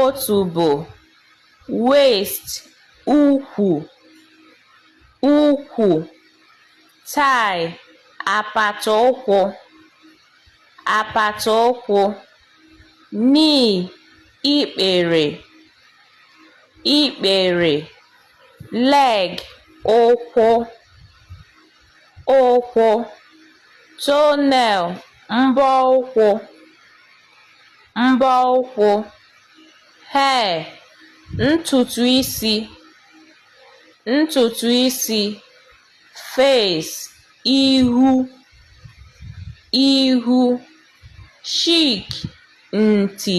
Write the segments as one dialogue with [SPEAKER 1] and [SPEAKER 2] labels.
[SPEAKER 1] otubo waist ukwu ukwu thigh apata ụkwụ apata ụkwụ knee ikpere ikpere leg ụkwụ ụkwụ toenail mbọ ụkwụ mbọ ụkwụ, hair, ntutu isi, ntutu isi, face, ihu, ihu, cheek, nti.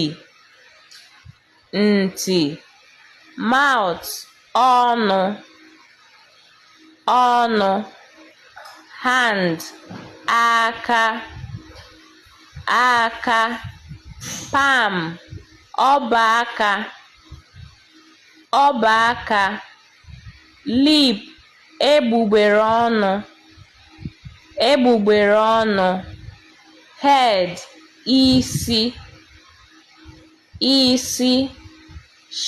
[SPEAKER 1] ntị mouth ọnụ ọnụ hand aka aka palm ọba aka ọba aka lip egbugbere ọnụ egbugbere ọnụ head isi isi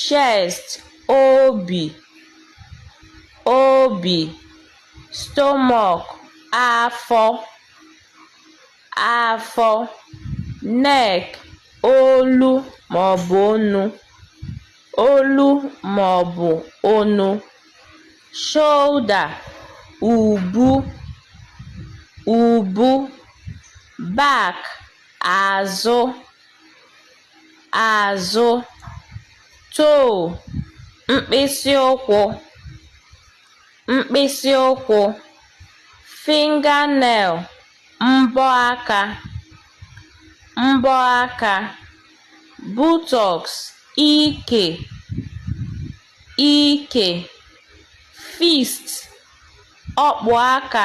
[SPEAKER 1] chest obi obi stomach afọ afọ neck olu maọbụ onu olu maọbụ onu shoulder ubu ubu back azụ azụ toe mkpịsị ụkwụ mkpịsị ụkwụ fingernail mbọ aka mbọ aka buttocks ike ike fist ọkpụ aka